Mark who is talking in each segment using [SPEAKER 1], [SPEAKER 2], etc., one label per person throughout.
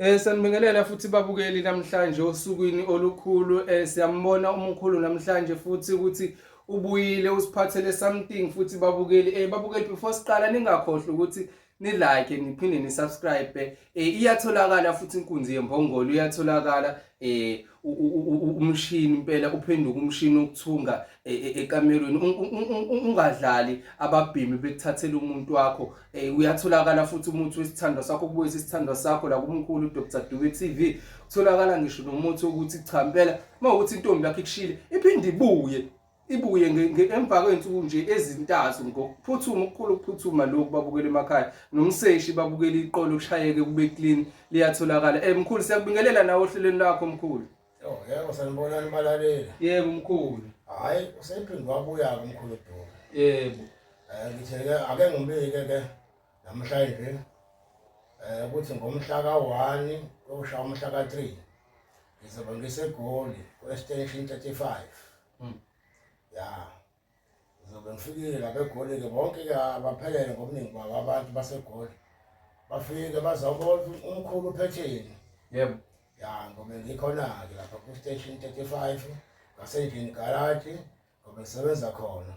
[SPEAKER 1] Eh sanibingelela futhi babukeli namhlanje osukwini olukhulu eh siyambona umkhulu namhlanje futhi ukuthi ubuyile usiphathele something futhi babukeli eh babukeli before siqala ningakhohlwa ukuthi ni like niphinde ni subscribe eh iyatholakala futhi inkunzi yembongolo iyatholakala eh umshini impela uphenduka umshini okuthunga e, e, ekamerweni ungadlali ababhimi bekuthathela umuntu wakho eh, uyatholakala futhi umuthi wesithandwa sakho kubuyisa isithandwa sakho la kumkhulu Dr Dube TV utholakala ngisho nomuthi ukuthi cha impela uma ukuthi intombi yakho ikushile iphinde ibuye ibuye emva kwey'nsuku nje ezintathu ngokuphuthuma ukukhulu ukuphuthuma lokhu babukela emakhaya nomseshi babukela iqolo kushayeke kube clean liyatholakala um mkhulu siyakubingelela nawe ohlelweni lakho mkhulu oh, yebo
[SPEAKER 2] sanibonani balalela yebo mkhulu
[SPEAKER 1] hhayi usephinde
[SPEAKER 2] wabuya-ke umkhulu duma yebo um
[SPEAKER 1] ngithe-ke
[SPEAKER 2] ake ngibike-ke namhlanje eh ukuthi ngomhla ka-1 koshaya umhla ka-3 ngizobe ngisegoli ku-extension 35 Mm. ya ngizobe ngifikile lapha egoli-ke bonke-ke abaphelele ngobuningi babo abantu basegoli bafike bazawubona ukuthi umkhulu uphetheni yebo
[SPEAKER 1] ya ngobe
[SPEAKER 2] ngikhona-ke lapha ku-station 35 ngasendlini garaji ngobe ngisebenza khona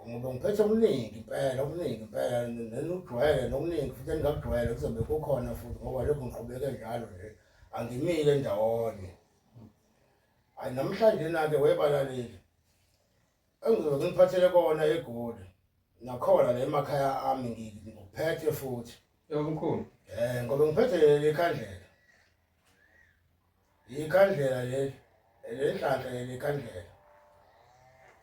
[SPEAKER 2] ngoba ngiphethe okuningi impela okuningi impela nenujwayele nokuningi futhi engingakujwayele kuzobe kukhona futhi ngoba lokhu ngiqhubeke njalo nje angimile ndawonye hayi namhlanje nake webalaleli engizobe ngiphathele kona egoli nakhona la emakhaya ami ngikuphethe futhi yomkhulu
[SPEAKER 1] um ngoba ngiphethe
[SPEAKER 2] leli khandlela Ikhandlela leli elenhlanhla yelikhandlela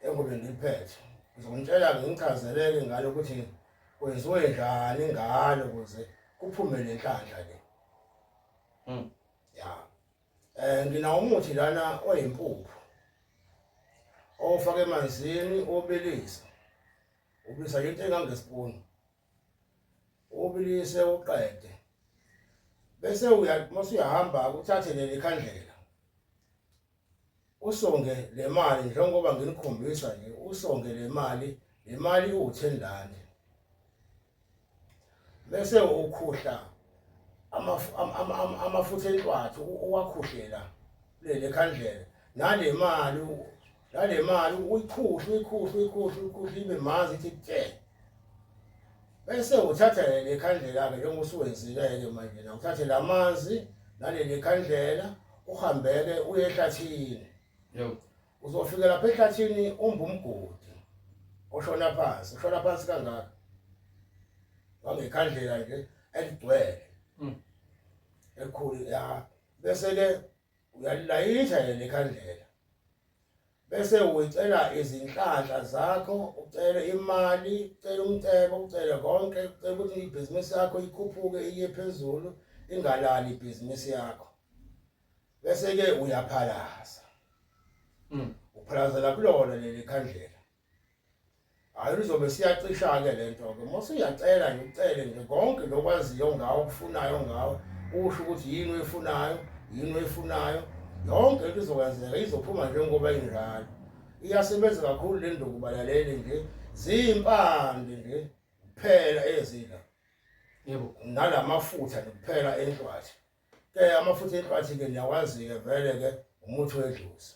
[SPEAKER 2] engobe ngiliphethe ngizomtshela ngichazeleke ngalo ukuthi kwenziwe njani ngalo ukuze kuphume le nhlanhla le hmm. ya um nginawo umuthi lana oyimpuphu owufake emanzini obilisa ubisa into engangesipuni ubilise uqede bese uya mase uyahamba uthathe leli khandlela usonge le mali njengoba nginikhombisa nje usonge le mali le mali iwu-ten rand bese ukhuhla amafutha enhlwathi uwakhuhlela leli khandlela nale mali nale mali uyikhuhle uyikhuhle uyikhuhle uyikhuhle ibe manzi ithi tse bese uthatha le khandlela-ke njengoba usuwenzile-ke manje na uthathe la manzi naleli khandlela uhambeke uye ehlathini
[SPEAKER 1] uzofika lapha
[SPEAKER 2] ehlathini umba umgodi oshona phansi ushona phansi kangaka wangekhandlela nje eligcwele hmm. ekhulu ya bese-ke uyalilayitha yena ikhandlela bese ucela izinhlanhla zakho ucele imali ucele umcebo ucele konke ucela ukuthi ibhizinisi yakho ikhuphuke iye phezulu ingalali ibhizinisi yakho bese ke uyaphalaza mm. uphalazela kulona leli khandlela hayi uzobe siyacisha-ke le nto-ke uma usuyacela nje ucele nje konke lokwaziyo ngawo okufunayo ngawo usho ukuthi yini oyifunayo yini oyifunayo yonke into izokwenzeka izophuma njengoba injalo iyasebenza kakhulu le nduku balaleli nje ziyimpande nje kuphela ezila yebo
[SPEAKER 1] nalamafutha
[SPEAKER 2] kuphela entwathi ke amafutha entwathi ke niyawazi-ke vele-ke umuthi wedluzi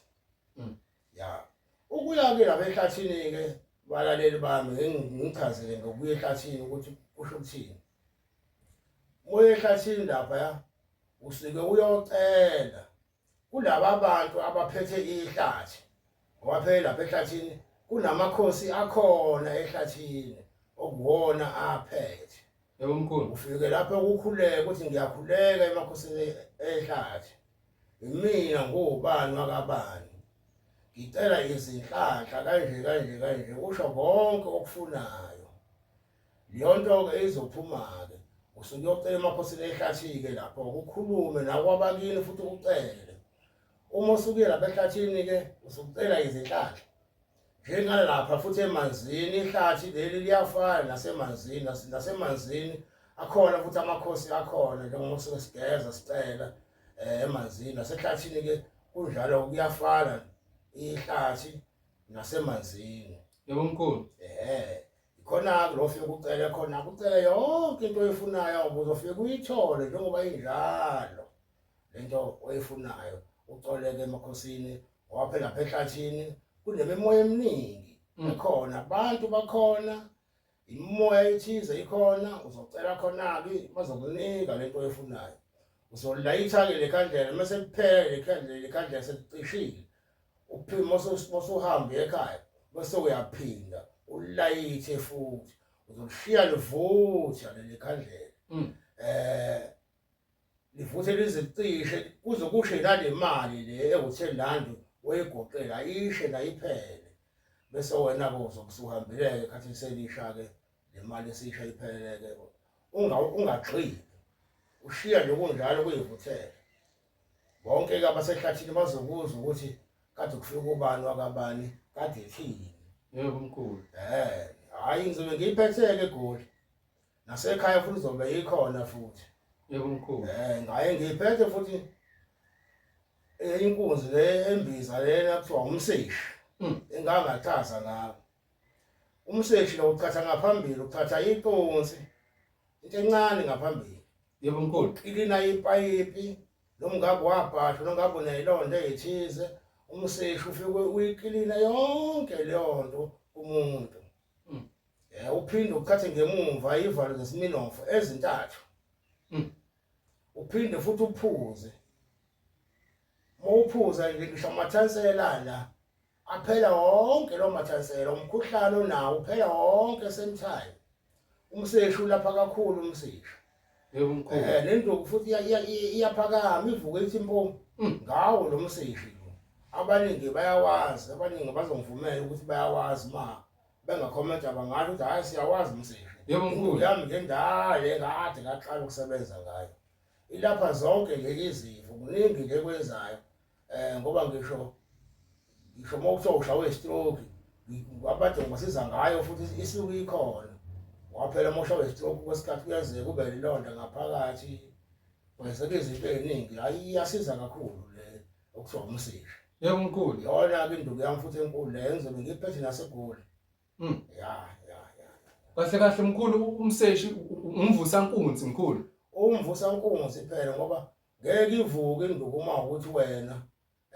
[SPEAKER 2] mm. ya ukuya-ke lapha ehlathini-ke balaleli bami ngichazele ngokuya ehlathini ukuthi kusho ukuthini moya ehlathini lapha ya usuke uyocela kulaba bantu abaphethe ihlathi ngoba phela lapha ehlathini kunamakhosi akhona ehlathini okuwona aphethe Yebo mkhulu.
[SPEAKER 1] Ufike lapha ukukhuleka
[SPEAKER 2] uthi ngiyakhuleka emakhosini ehlathi. Imina ngubani wakabani. Ngicela izinhlanhla kanje kanje kanje usho konke okufunayo. Leyonto ke izophuma ke. Usuke uyocela emakhosini ehlathi ke lapho ukukhulume nakwabakini futhi ucele. Uma usuke lapha ehlathini ke usucela izinhlanhla. njengalapha futhi emanzini ihlathi leli liyafana nasemanzini nasemanzini akhona futhi amakhosi akhona njengoba sike sigeza sicela eh, emanzini nasehlathini ke kunjalo kuyafana ihlathi nasemanzini
[SPEAKER 1] yebo mkhulu
[SPEAKER 2] eh khona lo fike kucele khona kucele yonke into oyifunayo ubuzofike uyithole njengoba injalo lento oyifunayo ucoleke emakhosini waphe lapha ehlathini kunemimoya eminingi mm. ekhona abantu bakhona imoya ethize ikhona uzocela khona-ke bazokunika lento oyifunayo uzolayitha-ke le khandlela uma sekuphele le khandlela le khandlela sekucishile uphima osuhambe ekhaya bese uyaphinda ulayithe futhi uzokushiya livutha leli khandlela um livuthe lize licishe kuze kushe nale mali le ewuthe landi wayigoqela ishe layiphele bese wena-ke uzokusuhambeleke khathi selisha-ke le mali esisha ipheleleke ungagxili ushiya nje kunjalo kuyivuthele bonke-ke abasehlathini bazokuzwa ukuthi kade kufika ubani wakabani kade ethini yebo mkhulu
[SPEAKER 1] um hhayi
[SPEAKER 2] ngizobe ngiyiphethe-ke egoli nasekhaya futhi izobe ikhona futhi yebo mkhulu
[SPEAKER 1] eh ngaye ngiphethe
[SPEAKER 2] futhi eh, inkunzi le embiza lena kuthiwa umseshi hmm. engangathaza ngawo umseshi lo uqhatha ngaphambili uqhatha iqonsi into encane ngaphambili yebo mkhulu
[SPEAKER 1] ilina ipayipi
[SPEAKER 2] nomngako wabhasha nomngako unelonto ethize umseshi ufike uyikilina yonke leyo nto umuntu Eh uphinde ukuthathe ngemumva ivalo zesiminofu ezintathu. Mm. Uphinde futhi uphuze. Mawuphuza nje ngisho amathansela la. Aphela wonke lo mathansela umkhuhlane onawo uphela wonke same time. Umseshu lapha kakhulu umseshu.
[SPEAKER 1] Yebo mkhulu. Eh lento futhi
[SPEAKER 2] iyaphakama ivuka ithi impo mm. ngawo lo mseshu. Abaningi bayawazi abaningi bazongivumela ukuthi bayawazi ma bengakhomenta bangathi ukuthi hhayi siyawazi umsebenzi yebo mkhulu yami
[SPEAKER 1] ngendale
[SPEAKER 2] kade ngaqala ukusebenza ngayo ilapha zonke nje izifo kuningi nje kwenzayo um ngoba ngisho ngisho uma kuthiwa ushawe istroke abantu ngibasiza ngayo futhi isuke ikhona waphela uma ushawe istroke kwesikhathi kuyenzeka ube lilonda ngaphakathi kwenzeka izinto ey'ningi hhayi iyasiza kakhulu le okusho umsika yebo mkhulu
[SPEAKER 1] yona ke induku yami
[SPEAKER 2] futhi enkulu le engizobe ngiphethe nasegoli mm ya ya
[SPEAKER 1] ya kahle kahle mkhulu umseshi umvusa nkunzi mkhulu umvusa nkunzi
[SPEAKER 2] phela ngoba ngeke ivuke induku uma ukuthi wena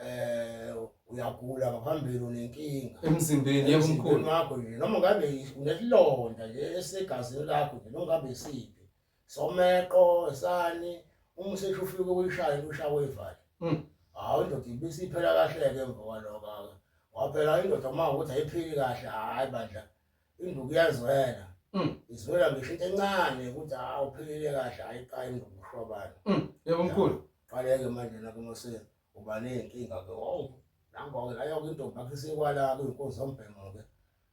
[SPEAKER 2] eh uyagula ngaphambili unenkinga emzimbeni yebo
[SPEAKER 1] mkhulu wakho nje noma ngabe
[SPEAKER 2] unesilonda nje esegazini lakho nje noma ngabe isiphi someqo sani uma usesho ufike kuyishaya kushawa ivali mm. hawu indoda ibisiphela kahle-ke emva kwaloko-ke waphela indoda uma ukuthi ayiphili kahle hhayi bandla induku iyazwela mm. izwela ngisho into encane ukuthi hawu uphilile kahle hhayi qa induku ushwabani mm. yebo mkhulu
[SPEAKER 1] qaleke manje
[SPEAKER 2] nakunoseni uba ney'nkinga ke owu nangoke layoke intombi yakhe isekwalapho inkozi zombhemo-ke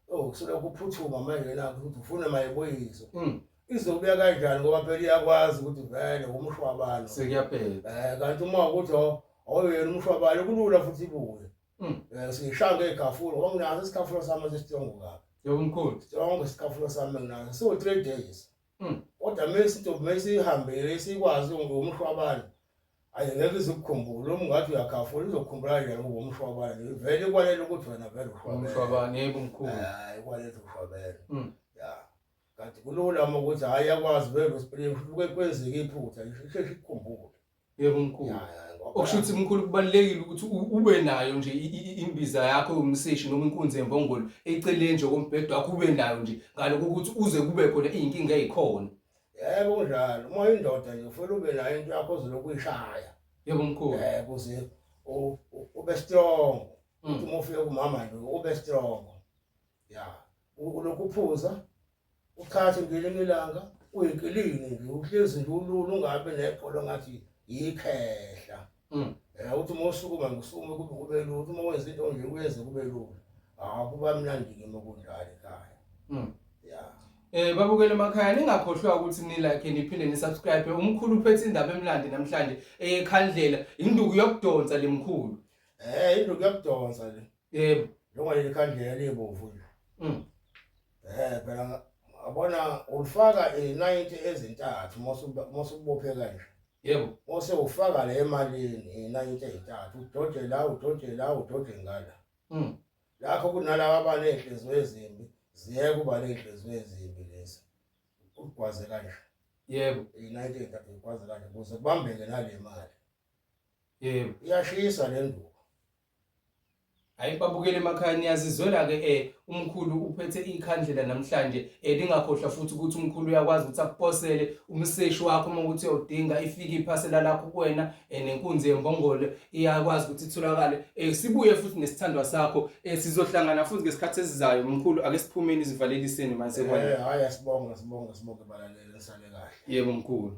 [SPEAKER 2] owu kusolokhu uphuthuma manje nakho ukuthi ufune mayibuyiswe Mm. izobuya kanjani ngoba phela iyakwazi ukuthi vele umshwabalo Sekuyabheda. um
[SPEAKER 1] kanti uma ukuthi
[SPEAKER 2] aw- awuyena umshwabalo kulula futhi ibuye Mm. um siyishaya ngey'gafula ngoba nginaso isikhafulo sami esisijongo kabi Yebo mkhulu. sonke
[SPEAKER 1] isikhafulo
[SPEAKER 2] sami enginaso siwu-three days Mm. kodwa mesi intombi mesiyihambile sikwazi umshwabane Ayi ngeke izikukhumbule uma ungathi uyakhafula izokukhumbula kanjani ngoba umshwabane nje vele ikwalela ukuthi wena vele ushwabene umshwabane yebo
[SPEAKER 1] mkhulu hayi ikwalela ukuthi
[SPEAKER 2] ushwabene Mm. ya kanti kulula uma ukuthi hhayi yakwazi vele uspring kuke kwenzeka iphutha nje isheshe ikukhumbule yebo mkhulu Ya,
[SPEAKER 1] ya, ngoba- okusho ukuthi mkhulu kubalulekile ukuthi u- ube nayo nje i- i- i- imbiza yakho yomseshi noma inkunzi yembongolo eceleni nje kombhedo wakho ube nayo nje ngaloko ukuthi uze kube khona iy'nkinga ey'khona Yebo kunjalo.
[SPEAKER 2] Uma indoda nje ufuna ube nayo into yakho ozolokhu uyishaya. Yebo mkhulu.
[SPEAKER 1] Eh kuze
[SPEAKER 2] u- u- ube strong. Mm. Uthi uma ufika kumama nje ube strong. Ya. U- Ulokhu uphuza ukhathe ngelinye ilanga uyinkilingi nje uhlezi nje ulula ungabe nebhola ngathi yikhehla. Mm. Eh uthi uma usukuma ngisukume kube kube lula, uthi uma wenza into nje uyenze kube lula. Ah kuba mnandi kimi ukudlala ekhaya. Mm. Yeah. Eh babukele emakhaya
[SPEAKER 1] ningakhohlwa ukuthi ni like niphinde ni subscribe umkhulu uphethe indaba emlandi namhlanje eyekhandlela induku yokudonsa lemkhulu. Eh induku
[SPEAKER 2] yokudonsa le. Yebo. Noma leli
[SPEAKER 1] khandlela
[SPEAKER 2] libomvu nje. Mm. Eh phela abona ulifaka izinayiti ezintathu mose ubophe kanje. Yebo. Mose
[SPEAKER 1] ufaka
[SPEAKER 2] le emalini izinayiti ezintathu udoje la udoje la udoje ngala. Mm. Lakho kunalabo abanezinhliziyo ezimbi ziyeke uba nezinhliziyo ezimbi lezi. Ugwaze kanje. Yebo.
[SPEAKER 1] Izinayiti ezintathu
[SPEAKER 2] ugwaze kanje kuze kubambeke nale mali. Yebo.
[SPEAKER 1] Iyashisa le
[SPEAKER 2] nduku.
[SPEAKER 1] hayi babukele emakhaya niyazizwela ke eh umkhulu uphethe ikhandlela namhlanje eh lingakhohlwa futhi ukuthi umkhulu uyakwazi ukuthi akuposele umseshi wakho uma ukuthi uyodinga ifike iphasela lakho kuwena eh nenkunzi yembongolo iyakwazi ukuthi itholakale eh sibuye futhi nesithandwa sakho eh sizohlangana futhi ngesikhathi esizayo umkhulu ake siphumeni izivaleliseni manje eh hayi asibonga sibonga
[SPEAKER 2] sibonga balalele sale kahle yebo mkhulu